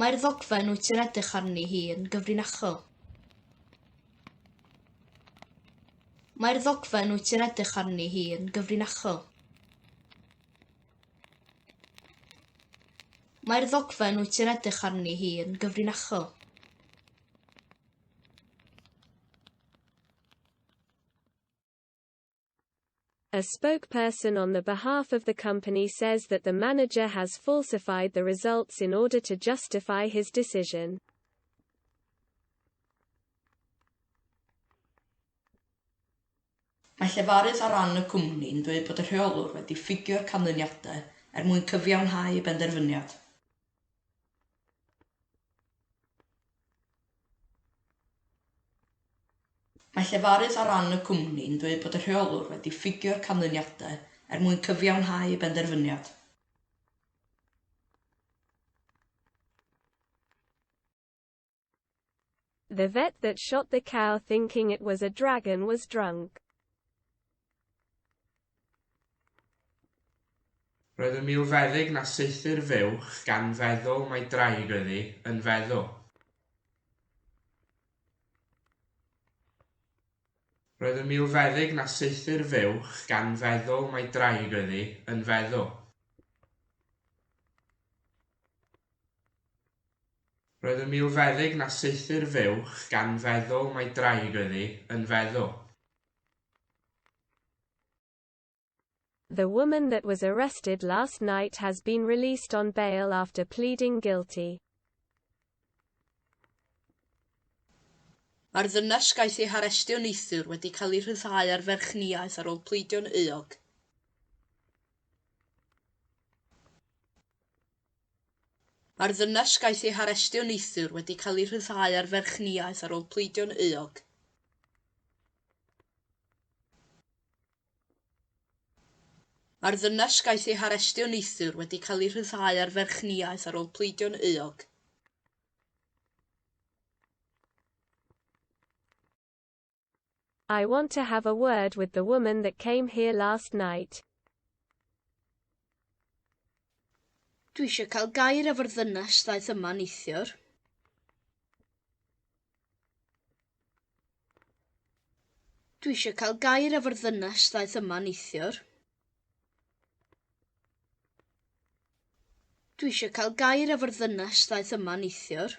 Mae'r ddogfen wyt ti'n edrych arni hi yn gyfrinachol. Mae'r ddogfen wyt ti'n edrych arni hi yn gyfrinachol. Mae'r ddogfen wyt ti'n edrych arni hi yn gyfrinachol. A spokesperson on the behalf of the company says that the manager has falsified the results in order to justify his decision. Mae llefarydd ar ran y cwmni yn dweud bod y rheolwr wedi ffugio'r canlyniadau er mwyn cyfiawnhau y benderfyniad. Mae llefarydd ar ran y cwmni yn dweud bod y rheolwr wedi ffugio'r canlyniadau er mwyn cyfiawnhau ei benderfyniad. The vet that shot the cow thinking it was a dragon was drunk. Roedd yn milfeddyg na saethu'r fuwch gan feddwl mai draig oedd hi, yn feddwl. Roedd yn milfeddyg na saethu'r fuwch gan feddwl mai draig oedd hi, yn feddwl. Roedd yn milfeddyg na saethu'r fuwch gan feddwl mai draig oedd hi, yn feddwl. The woman that was arrested last night has been released on bail after pleading guilty. Mae'r ddynes gaeth ei harestio neithiwr wedi cael ei rhyddhau ar ferchniaeth ar ôl pleidio'n euog. Mae'r ddynes gaeth ei harestio neithiwr wedi cael ei rhyddhau ar ferchniaeth ar ôl pleidio'n euog. Mae'r ddynes gaeth ei harestio neithiwr wedi cael ei rhyddhau ar ferchniaeth ar ôl pleidio'n euog. I want to have a word with the woman that came here last night. Dwi eisiau cael gair efo'r ddynes ddaeth yma neithiwr. Dwi eisiau cael gair efo'r ddynes ddaeth yma neithiwr. Dwi eisiau cael gair efo'r ddynes ddaeth yma neithiwr.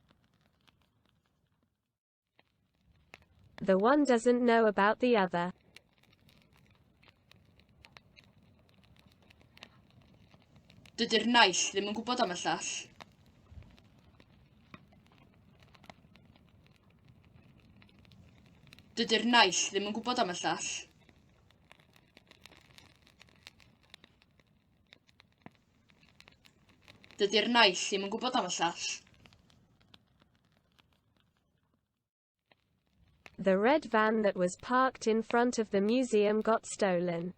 The one doesn't know about the other. Dydy'r naill ddim yn gwybod am y llall. Dydy'r naill ddim yn gwybod am y llall. Dydy'r naill ddim yn gwybod am y llall. The red van that was parked in front of the museum got stolen.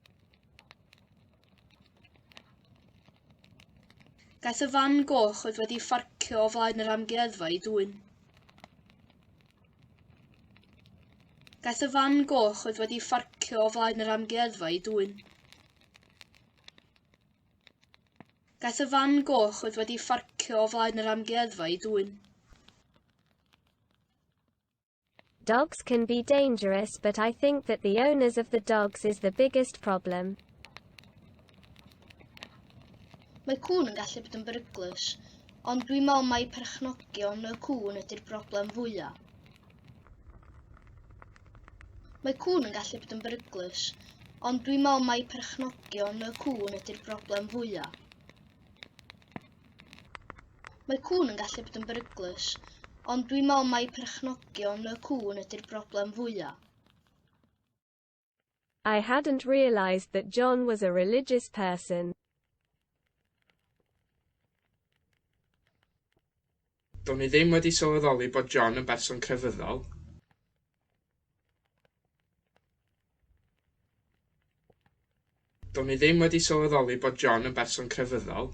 Daeth y fan goch oedd wedi ffarcio o flaen yr amgueddfa i dwyn. Daeth y fan goch oedd wedi ffarcio o flaen yr amgueddfa i dwyn. Daeth y fan goch oedd wedi ffarcio o flaen yr amgueddfa i dwyn. Dogs can be dangerous but I think that the owners of the dogs is the biggest problem. Mae cŵn yn gallu bod yn beryglus, ond dwi'n meddwl mai perchnogion y cŵn ydy'r broblem fwyaf. Mae cŵn yn gallu bod yn beryglus, ond dwi'n meddwl mai perchnogion y cŵn ydy'r broblem fwyaf. Mae cŵn yn gallu bod yn beryglus, ond dwi'n meddwl mai perchnogion y cŵn ydy'r broblem fwyaf. I hadn't realised that John was a religious person. Do'n i ddim wedi sylweddoli bod John yn berson crefyddol. Do'n i ddim wedi sylweddoli bod John yn berson crefyddol.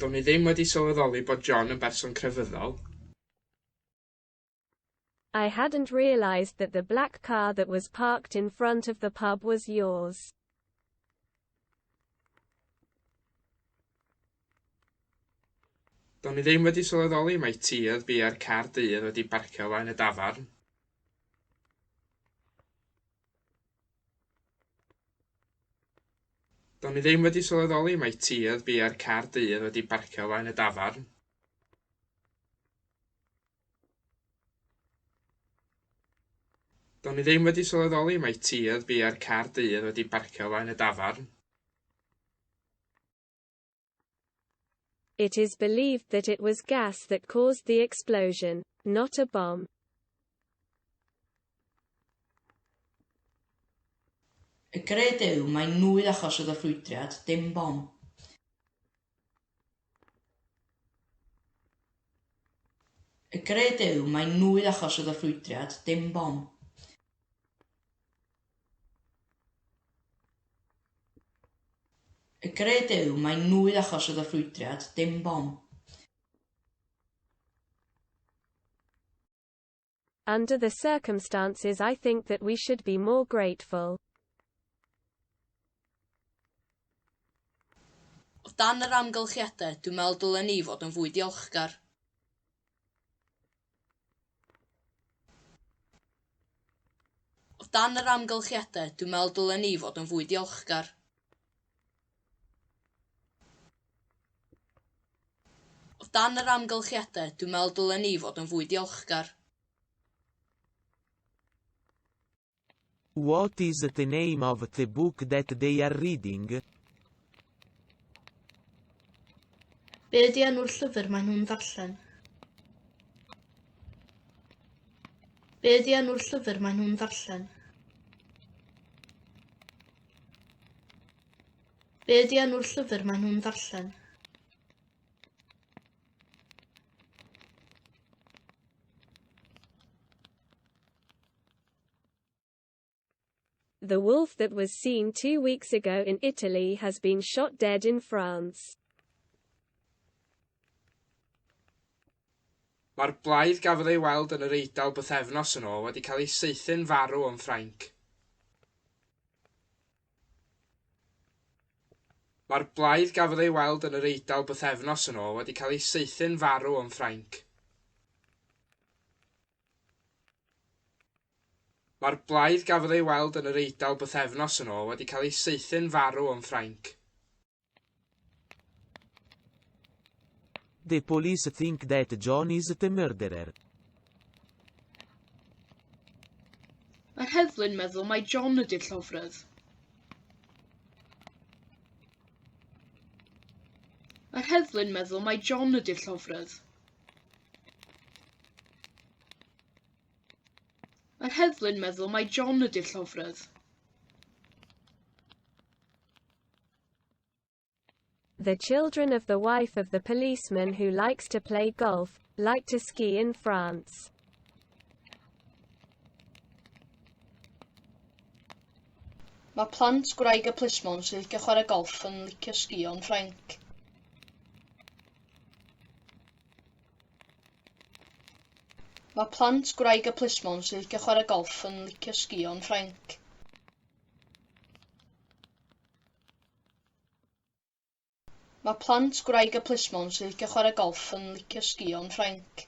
Do'n i ddim wedi sylweddoli bod John yn berson crefyddol. I hadn't realised that the black car that was parked in front of the pub was yours. Do'n i ddim wedi sylweddoli mai ti oedd biau'r car du oedd wedi barcio o flaen y dafarn. Do'n i ddim wedi sylweddoli mai tir biau'r car dydd wedi barcio o flaen y dafarn. Do'n i ddim wedi sylweddoli mai tir biau'r car dydd wedi barcio o flaen y dafarn. It is believed that it was gas that caused the explosion, not a bomb. Y gred yw mai nwy achos oedd y ffrwydriad, dim bom. Y gred yw mai nwy achos oedd y ffrwydriad, dim bom. Y gred yw mai nwy achos oedd y ffrwydriad, dim bom. Under the circumstances I think that we should be more grateful. O dan yr amgylchiadau, dwi'n meddwl dylen ni fod yn fwy diolchgar. O dan yr amgylchiadau, dwi'n meddwl dylen ni fod yn fwy diolchgar. O dan yr amgylchiadau, dwi'n meddwl dylen ni fod yn fwy diolchgar. What is the name of the book that they are reading? Be ydy enw'r llyfr maen nhw'n ddarllen? Be ydy enw'r llyfr maen nhw'n ddarllen? Be ydy enw'r llyfr maen nhw'n ddarllen? The wolf that was seen two weeks ago in Italy has been shot dead in France. Mae'r blaidd gafodd ei weld yn yr Eidal bythefnos yn ôl wedi cael ei saethu'n farw yn Ffrainc. Mae'r blaidd gafodd ei weld yn yr Eidal bythefnos yn ôl wedi cael ei saethu'n farw yn Ffrainc. Mae'r blaidd gafodd ei weld yn yr Eidal bythefnos yn ôl wedi cael ei saethu'n farw yn Ffrainc. The police think that John is the murderer. Mae'r heddlu'n meddwl mai John ydy'r llofrudd. Mae'r heddlu'n meddwl mai John ydy'r llofrudd. Mae'r heddlu'n meddwl mai John ydy'r llofrudd. The children of the wife of the policeman who likes to play golf, like to ski in France. Mae plant gwraig y plismon sy'n licio chwarae golff yn licio sgïo yn Ffrainc. Mae plant gwraig y plismon sy'n licio chwarae golff yn licio sgïo'n Ffrainc. Mae plant gwraig y plismon sy'n licio chwarae golff yn licio sgïo'n Ffrainc.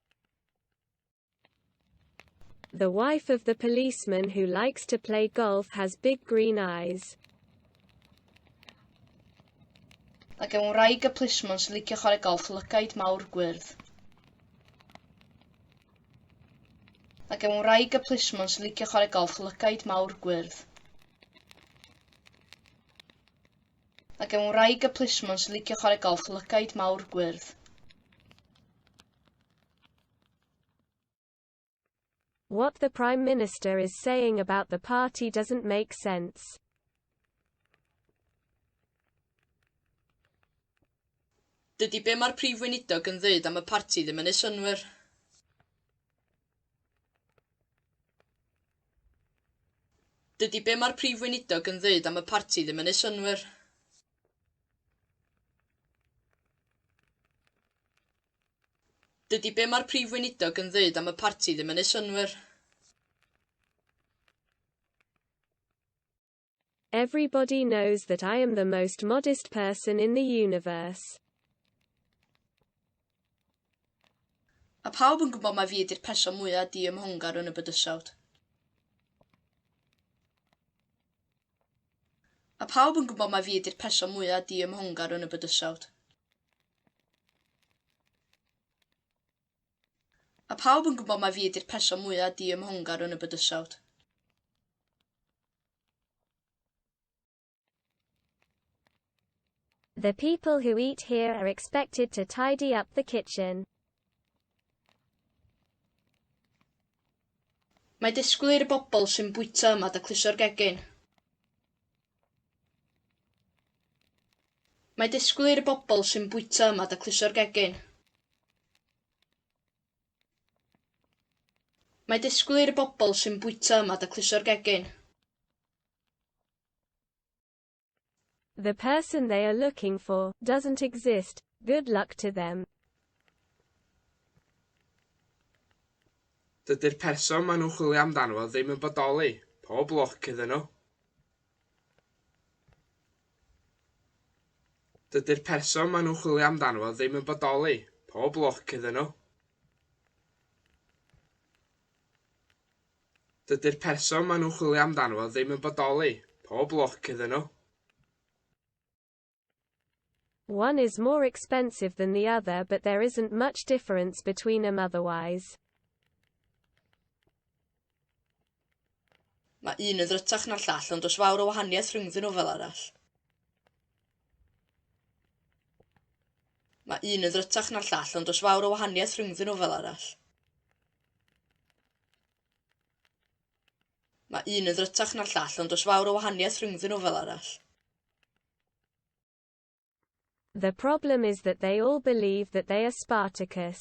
The wife of the policeman who likes to play golf has big green eyes. Mae gen wraig y plismon sy'n licio chwarae golff lygaid mawr gwyrdd. Mae gen wraig y plismon sy'n licio chwarae golff lygaid mawr gwyrdd. Mae gen wraig y plismon sy'n licio chwarae golff lygaid mawr gwyrdd. What the Prime Minister is saying about the party doesn't make sense. Dydy be mae'r Prif Weinidog yn ddeud am y parti ddim yn ei synwyr. Dydy be mae'r Prif Weinidog yn ddeud am y parti ddim yn ei synwyr. Dydy be mae'r Prif Weinidog yn ddeud am y parti ddim yn ei synwyr. Everybody knows that I am the most modest person in the universe. Mae pawb yn gwybod mai fi ydy'r person mwyaf diymhongar yn y bydysawd. Mae pawb yn gwybod mai fi ydy'r person mwyaf diymhongar yn y bydysawd. Mae pawb yn gwybod mai fi ydy'r person mwyaf diymhongar yn y bydysawd. The people who eat here are expected to tidy up the kitchen. Mae disgwyl i'r bobl sy'n bwyta yma dacluso'r gegin. Mae disgwyl i'r bobl sy'n bwyta yma dacluso'r gegin. Mae disgwyl i'r bobl sy'n bwyta yma dacluso'r gegin. The person they are looking for doesn't exist, good luck to them. Dydy'r person maen nhw'n chwilio amdano fo ddim yn bodoli, pob lwc iddyn nhw. Dydy'r person maen nhw'n chwilio amdano fo ddim yn bodoli. Pob lwc iddyn nhw. Dydy'r person maen nhw'n chwilio amdano fo ddim yn bodoli. Pob lwc iddyn nhw. One is more expensive than the other but there isn't much difference between them otherwise. Mae un yn ddrytach na'r llall ond does fawr o wahaniaeth rhyngddyn nhw fel arall. Mae un yn ddrytach na'r llall ond does fawr o wahaniaeth rhyngddyn nhw fel arall. Mae un yn ddrytach na'r llall ond does fawr o wahaniaeth rhyngddyn nhw fel arall. The problem is that they all believe that they are Spartacus.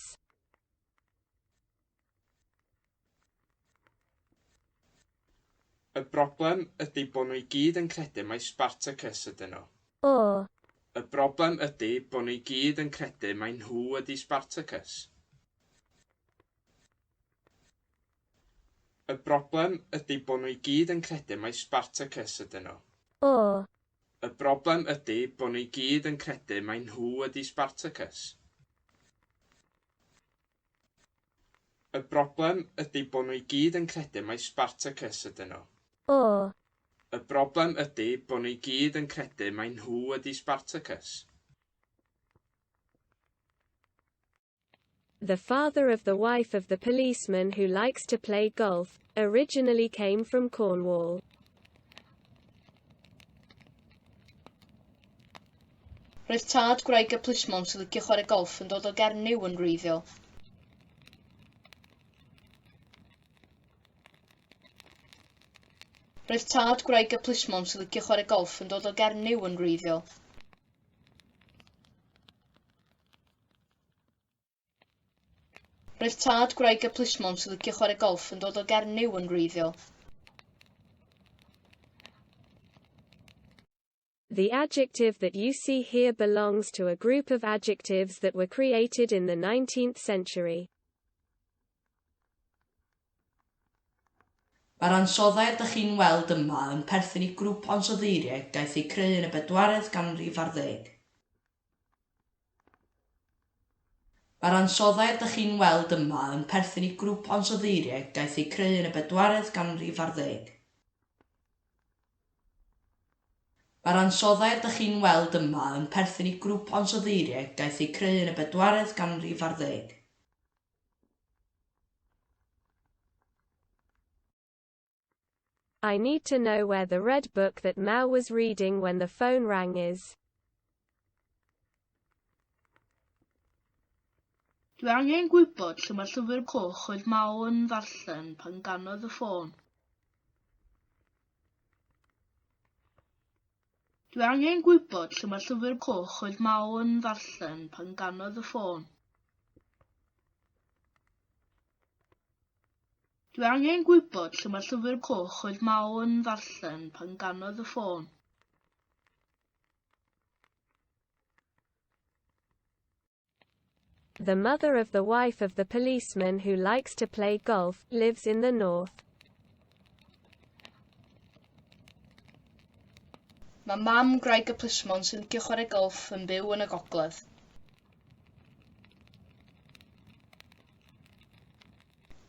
Y broblem ydy bod nhw i gyd yn credu mai Spartacus ydyn nhw. Or. Y broblem ydy bod nhw i gyd yn credu mai nhw ydy Spartacus. Y broblem ydy bo nhw i gyd yn credu mai Spartacus ydyn nhw. O! Y broblem ydy bo nhw i gyd yn credu mai nhw ydy Spartacus. Y broblem ydy bo nhw i gyd yn credu mai Spartacus ydyn nhw. O! Y broblem ydy bo nhw i gyd yn credu mai nhw ydy Spartacus. The father of the wife of the policeman who likes to play golf, originally came from Cornwall. Roedd tad gwraig y plismon sy'n licio chwarae golff yn dod o Gernyw yn wreiddiol. Roedd tad gwraig y plismon sy'n licio chwarae golff yn dod o Gernyw yn wreiddiol. Roedd tad gwraig y plismon sy'n licio chwarae golff yn dod o Gernyw yn wreiddiol. The adjective that you see here belongs to a group of adjectives that were created in the 19th century. Mae'r ansoddau rydych chi'n weld yma yn perthyn i grŵp o ansoddeiriaid gaeth eu creu yn y bedwaredd ganrif ar ddeg. Mae'r ansoddau rydych chi'n weld yma yn perthyn i grŵp ansoddeiriaid daeth eu creu yn y bedwaredd ganrif ar ddeg. Mae'r ansoddau rydych chi'n weld yma yn perthyn i grŵp ansoddeiriaid daeth eu creu yn y bedwaredd ganrif ar ddeg. I need to know where the red book that Mel was reading when the phone rang is. Dwi angen gwybod lle mae llyfr coch oedd Mel yn ddarllen pan ganodd y ffôn. Dwi angen gwybod lle mae llyfr coch oedd Mao yn ddarllen pan ganodd y ffôn. Dwi angen gwybod lle mae llyfr coch oedd Mao yn ddarllen pan ganodd y ffôn. The mother of the wife of the policeman who likes to play golf, lives in the north. Mae mam gwraig y plismon sy'n licio chwarae golff yn byw yn y gogledd.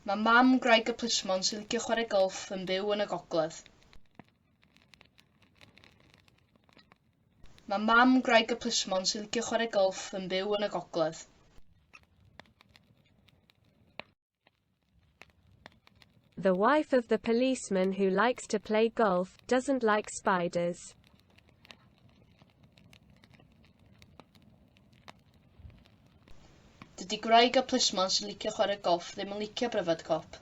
Mae mam gwraig y plismon sy'n licio chwarae golff yn byw yn y gogledd. Mae mam gwraig y plismon sy'n licio chwarae golff yn byw yn y gogledd. The wife of the policeman who likes to play golf doesn't like spiders. Dydy gwraig a plismon sy'n licio chwarae golff ddim yn licio pryfed cop.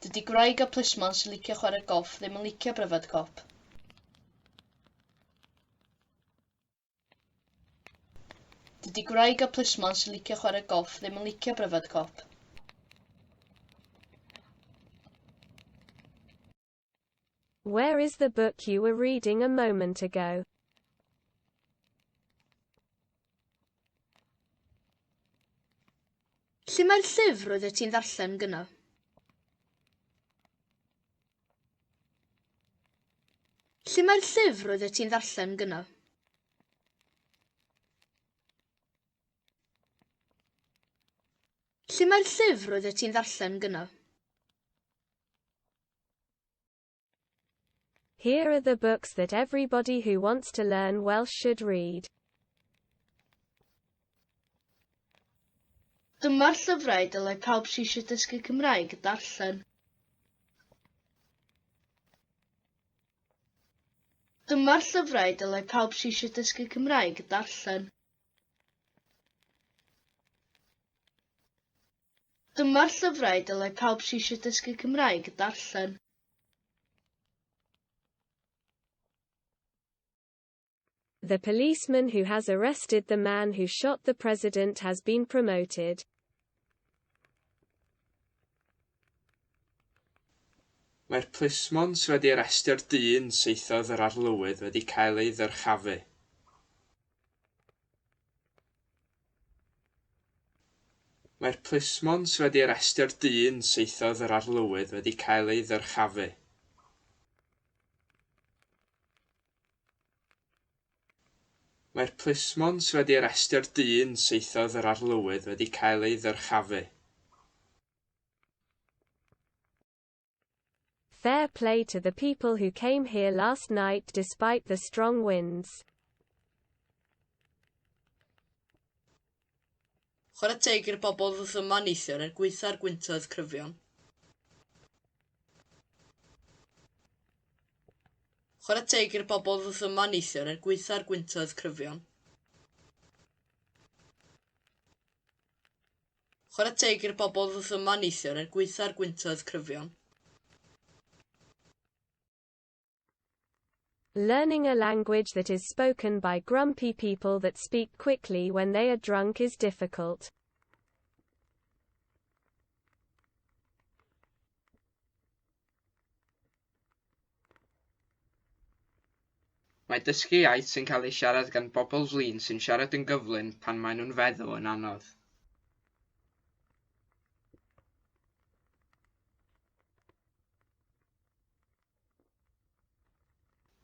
Dydy gwraig a plismon sy'n licio chwarae golff ddim yn licio pryfed cop. Dydy gwraig â plismon sy'n licio chwarae golff ddim yn licio pryfed cop. Where is the book you were reading a moment ago? Lle mae'r llyfr roeddet ti'n ddarllen gyno? Lle mae'r llyfr roeddet ti'n ddarllen gyno? Lle mae'r llyfr roeddet ti'n ddarllen gyno? Here are the books that everybody who wants to learn Welsh should read. Dyma'r llyfrau dylai pawb sydd eisiau dysgu Cymraeg darllen. Dyma'r llyfrau dylai pawb sydd eisiau dysgu Cymraeg darllen. Dyma'r llyfrau dylai pawb sydd eisiau dysgu Cymraeg darllen. The policeman who has arrested the man who shot the president has been promoted. Mae'r plismon sydd wedi arestio'r dyn saethodd yr arlywydd wedi cael ei ddyrchafu. Mae'r plismon sydd wedi arestio'r dyn saethodd yr arlywydd wedi cael ei ddyrchafu. Mae'r plismon sydd wedi arestio'r dyn saethodd yr arlywydd wedi cael ei ddyrchafu. Fair play to the people who came here last night despite the strong winds. Chwarae teg i'r bobl ddoth yma neithiwr er gwaetha'r gwyntoedd cryfion. Chwarae teg i'r bobl ddoth yma neithiwr er gwaetha'r gwyntoedd cryfion. Chwarae teg i'r bobl ddoth yma neithiwr er gwaetha'r gwyntoedd cryfion. Learning a language that is spoken by grumpy people that speak quickly when they are drunk is difficult. Mae dysgu iaith sy'n cael ei siarad gan bobl flin sy'n siarad yn gyflym pan maen nhw'n feddw yn anodd.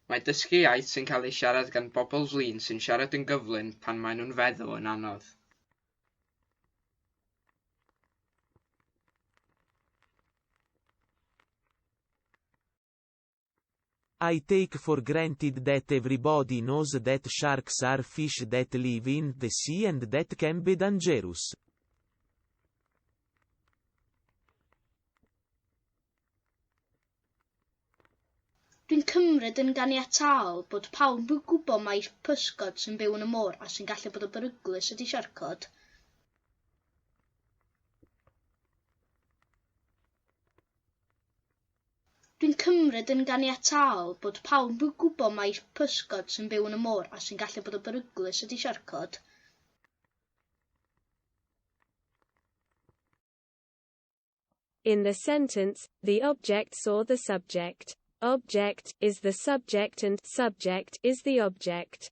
Mae dysgu iaith sy'n cael ei siarad gan bobl flin sy'n siarad yn gyflym pan maen nhw'n feddw yn anodd. I take for granted that everybody knows that sharks are fish that live in the sea and that can be dangerous. Dwi'n cymryd yn ganiataol bod pawb yn gwybod mai pysgod sy'n byw yn y môr a sy'n gallu bod yn beryglus ydy siarcod. Dwi'n cymryd yn ganiataol bod pawb yn gwybod mai pysgod sy'n byw yn y môr a sy'n gallu bod yn beryglus ydy siarcod. In the sentence, the object saw the subject. Object is the subject and subject is the object.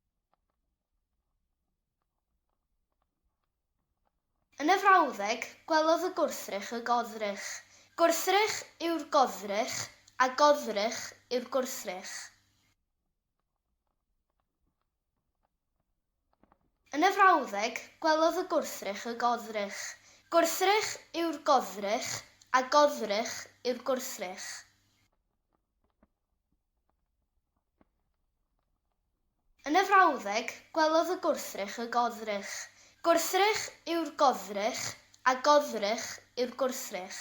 Yn y frawddeg, gwelodd y gwrthrych y goddrych. Gwrthrych yw'r goddrych a goddrych yw'r gwrthrych. Yn y frawddeg, gwelodd y gwrthrych y goddrych. Gwrthrych yw'r goddrych, a goddrych yw'r gwrthrych. Yn y frawddeg, gwelodd y gwrthrych y goddrych. Gwrthrych yw'r goddrych, a goddrych yw'r gwrthrych.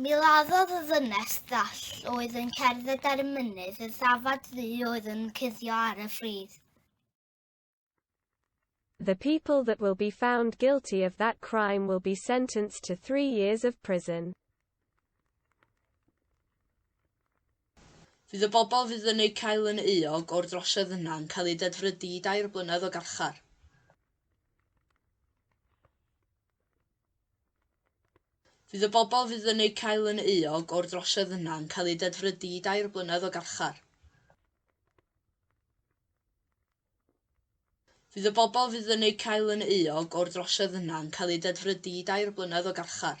Mi laddodd y ddynes ddall oedd yn cerdded ar y mynydd y ddafad ddu oedd yn cuddio ar y ffridd. The people that will be found guilty of that crime will be sentenced to three years of prison. Fydd y bobl fydd yn eu cael yn euog o'r drosiad yna yn cael eu dedfrydu i dair blynedd o garchar. Fydd y bobl fydd yn eu cael yn euog o'r drosiad yna yn cael eu dedfrydu i dair blynedd o garchar. Fydd y bobl fydd yn eu cael yn euog o'r drosiad yna yn cael eu dedfrydu i dair blynedd o garchar.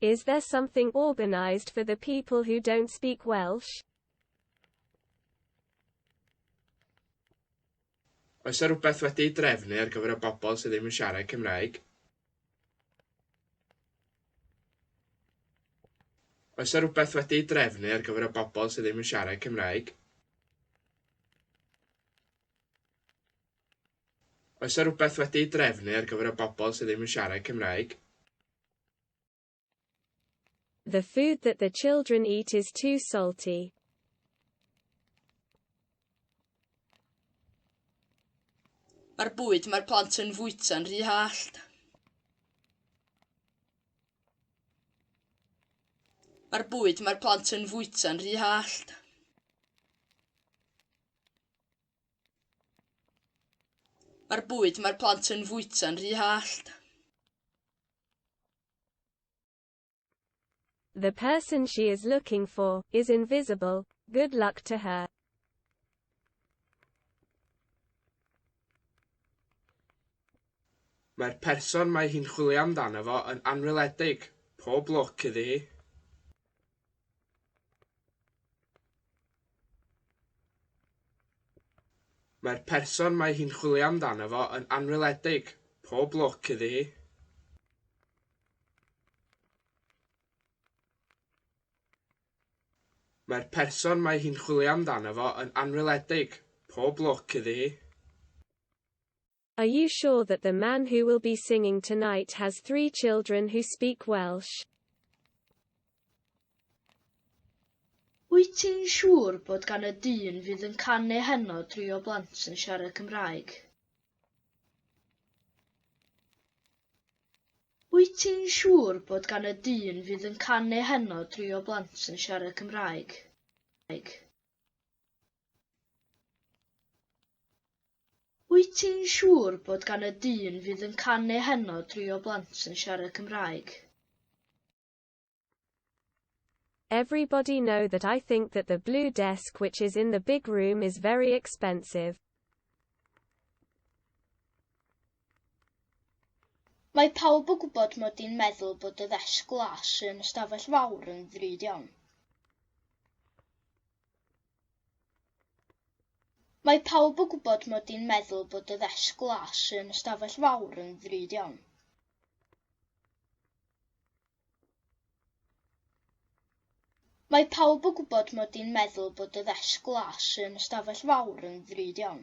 Is there something organised for the people who don't speak Welsh? Oes yna rhywbeth wedi'i drefnu ar gyfer y bobl sydd ddim yn siarad Cymraeg? Oes yna rhywbeth wedi'i drefnu ar gyfer y bobl sydd ddim yn siarad Cymraeg? Oes 'na rywbeth wedi ei drefnu ar gyfer y bobl sydd ddim yn siarad Cymraeg? The food that the children eat is too salty. Mae'r bwyd mae'r plant yn fwyta'n rhy hallt. Mae'r bwyd mae'r plant yn fwyta'n rhy hallt. Mae'r bwyd mae'r plant yn fwyta'n rhy hallt. The person she is looking for is invisible. Good luck to her. Mae'r person mae hi'n chwilio amdano fo yn anweledig. Pob lwc iddi hi. Mae'r person mae hi'n chwilio amdano fo yn anweledig. Pob lwc iddi hi. Mae'r person mae hi'n chwilio amdano fo yn anweledig. Pob lwc iddi hi. Are you sure that the man who will be singing tonight has three children who speak Welsh? Wyt ti'n siŵr bod gan y dyn fydd yn canu heno dri o blant yn siarad Cymraeg? Wyt ti'n siŵr bod gan y dyn fydd yn canu heno dri o blant yn siarad Cymraeg? Wyt ti'n siŵr bod gan y dyn fydd yn canu heno dri o blant yn siarad Cymraeg? Everybody know that I think that the blue desk which is in the big room is very expensive. Mae pawb yn gwybod mod i'n meddwl bod y ddesg glas yn ystafell fawr yn ddrud iawn. Mae pawb yn gwybod mod i'n meddwl bod y ddesg glas yn y stafell fawr yn ddrud iawn. Mae pawb yn gwybod mod i'n meddwl bod y ddesg glas yn y stafell fawr yn ddrud iawn.